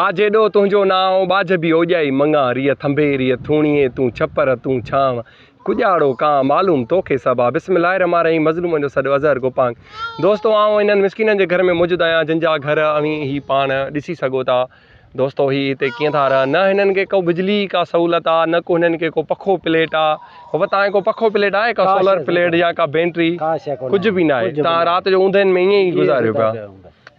آ جيڏو تنهنجو نانء، ٻاجهه به اوڄائي مڱان، ريء ٿنڀي، ريء ٿوڻيء، تون ڇپر، تون ڇانء، ڪڄاڙو ڪانء، معلوم توکي سڀ آ. بسم الله الرحمٰن الرحيم مظلومن جو سڏ اظهر گوپانگ دوستو آئون انهن مسڪينن جي گهر ۾ موجود آهيان جن جا گهر اوهين هي پاڻ ڏسي سگهو ٿا دوستو هي هتي ڪيئن ٿا رهن نه هنن کي ڪو بجلي جي ڪا سهولت آ نه ڪو هنن کي ڪو پکو پليٽ آ بابا تانکي ڪو پکو پليٽ آهي ڪا سولر پليٽ يا ڪا بينٽري ڪجهه به ناهي تان رات جو اوندهين ۾ ائين ئي گذاريو پيا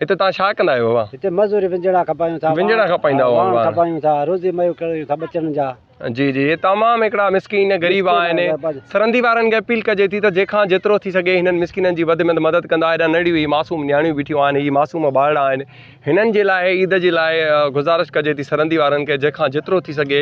هتي توهان ڇا ڪندا آهيو بابا؟ هتي مزوري ونجهڙا کپائيون ٿا. ونجهڙا کپائيندا آهيو واڻ واڻ. کپائيون ٿا. روزي ميو ڪريون ٿا ٻچڙن جا. جي جي هي تمام هڪڙا مسڪين غريب مسڪين آهن آهن، بس. سرندي وارن کي اپيل ڪجي ٿي ته جنهن کان جيترو ٿي سگهي هنن مسڪينن جي وڌ ۾ وڌ مدد ڪندا هيڏانهن ننڍڙيون هي معصوم نياڻيون بيٺيون آهن هي معصوم ٻارڙا آهن هنن جي لاء عيد جي لاء گذارش ڪجي ٿي سرندي وارن کي جنهن کان جيترو ٿي سگهي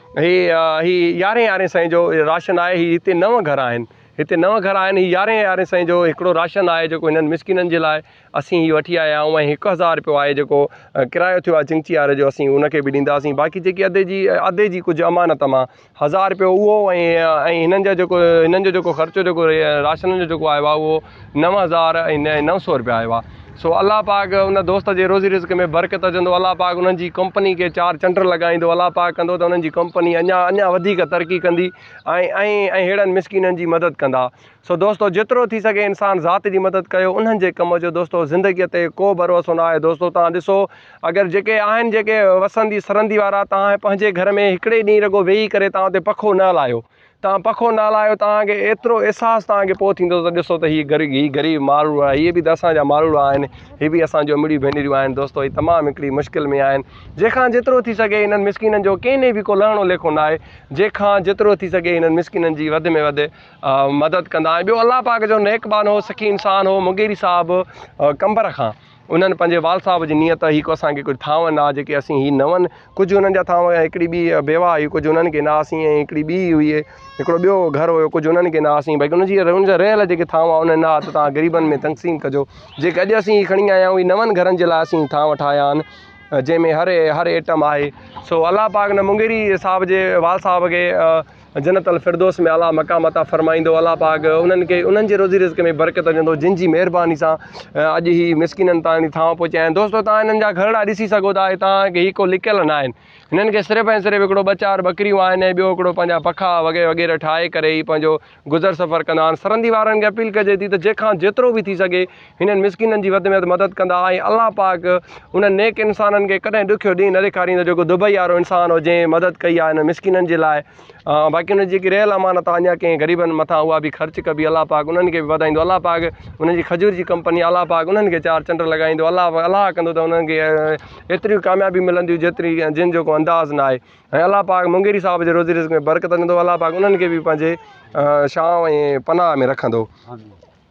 هي هي يارهين يارهين سئين جو راشن آهي هي هتي نو گهر آهن هتي نو گهر آهن هي يارهين يارهين سئين جو هڪڙو راشن آهي جيڪو هنن مسڪينن جي لاء اسين هي وٺي آيا آهيون ۽ هڪ هزار رپيو آهي جيڪو ڪرايو ٿيو آهي چنگچي واري جو اسين ان کي به ڏينداسين باقي جيڪي ادي جي ادي جي ڪجهه امانت مان هزار رپيو اهو ۽ ۽ هنن جا جيڪو هنن جو جيڪو خرچو جيڪو راشن جو جيڪو آيو آهي اهو نو هزار ۽ نه نو سو روپيا آيو آ سو الله پاڪ ان دوست جي روزي رزق ۾ برڪت وجهندو الله پاڪ انهن جي ڪمپني کي چار چنڊ لڳائيندو الله پاڪ ڪندو ته انهن جي ڪمپني اڃا اڃا وڌيڪ ترقي ڪندي ۽ ۽ اهڙن مسڪينن جي مدد ڪندا سو دوستو جيترو ٿي سگهي انسان ذات جي مدد ڪيو انهن جي ڪم جو دوستو زندگي تي ڪو ڀروسو نه آهي دوستو تان ڏسو اگر جيڪي آهن جيڪي وسندي سرندي وارا تان پنهنجي گهر ۾ هڪڙي ڏينهن رڳو ويهي ڪري تان اتي پکو نه هلايو توهان پکو نالا آهيو توهان کي ايترو احساس توهان کي پوء ٿيندو ته ڏسو ته هي غريب هي غريب ماروڙا هي به ته اسان جا ماروڙا آهن هي به اسان جو امڙيون ڀينريون آهن دوستو هي تمام هڪڙي مشڪل ۾ آهن جيکان جيترو ٿي سگهي هنن مسڪينن جو ڪنهن ڏي به ڪو لهڻو ليکو ناهي جيکان جيترو ٿي سگهي هنن مسڪينن جي وڌ ۾ وڌ مدد ڪندا ۽ ٻيو الله پاڪ جو نيڪ بانو سخي انسان هو مغيري صاحب قمبر کان انهن پنهنجي وال صاحب جي نيت هي ڪو اسان کي ڪجهه ٿانون آ جيڪي اسين هي نون ڪجهه انهن جا ٿانو ۽ هڪڙي ٻي بيواهه هئي ڪجهه انهن کي نه هئاسين ۽ هڪڙي ٻي هئي هڪڙو ٻيو گهر هيو ڪجهه انهن کي نه هئاسين بلڪه انهن جي انهن جا رهيل جيڪي ٿانو انهن نه هئا ته تان غريبن ۾ تقسيم ڪجو جيڪي اڄ اسين هي کڻي آيا آهيون هي نون گهرن جي لاء اسين ٿانو ٺاهيا آهن جنهن ۾ هر هر ائٽم آهي سو الله پاڪ نه مونگيري صاحب جي وال صاحب کي جنت الفردوس ۾ اعلٰي مقام عطا فرمائيندو الله پاڪ انهن کي انهن جي روزي رزق ۾ برڪت وجهندو جن جي مهرباني سان اڄ هي مسڪينن تائين ٿانو پهچيا آهن دوستو تان انهن جا گهرڙا ڏسي سگهو ٿا هي تان کي هي ڪو لڪيل ناهن انهن کي صرف ۽ صرف هڪڙو ٻه چار ٻڪريون آهن ۽ ٻيو هڪڙو پنهنجا پکا وغيره وغيره ٺاهي ڪري هي پنهنجو گذر سفر ڪندا آهن سرندي وارن کي اپيل ڪجي ٿي ته جنهن کان جيترو به ٿي سگهي هنن مسڪينن جي وڌ ۾ وڌ مدد ڪندا ۽ الله پاڪ انهن نيڪ انسانن کي ڪڏهن ڏکيو ڏينهن نه ڏيکاريندو جيڪو دبئي وارو انسان هو جنهن مدد ڪئي آهي انهن مسڪينن جي لاء باقي انهن جي جيڪي رهيل امانت آهي اڃا ڪنهن غريبن مٿان اها به خرچ ڪبي الله پاڪ انهن کي به وڌائيندو الله پاڪ انهن جي کجور جي ڪمپني الله پاڪ انهن کي چار چنڊ لڳائيندو الله الله ڪندو ته انهن کي ايتريون ڪاميابيون ملنديون جيتري جن جو ڪو انداز نه آهي ۽ الله پاڪ مونگيري صاحب جي روزي رزق ۾ برڪت ڏيندو الله پاڪ انهن کي به پنهنجي شام ۽ پناهه ۾ رکندو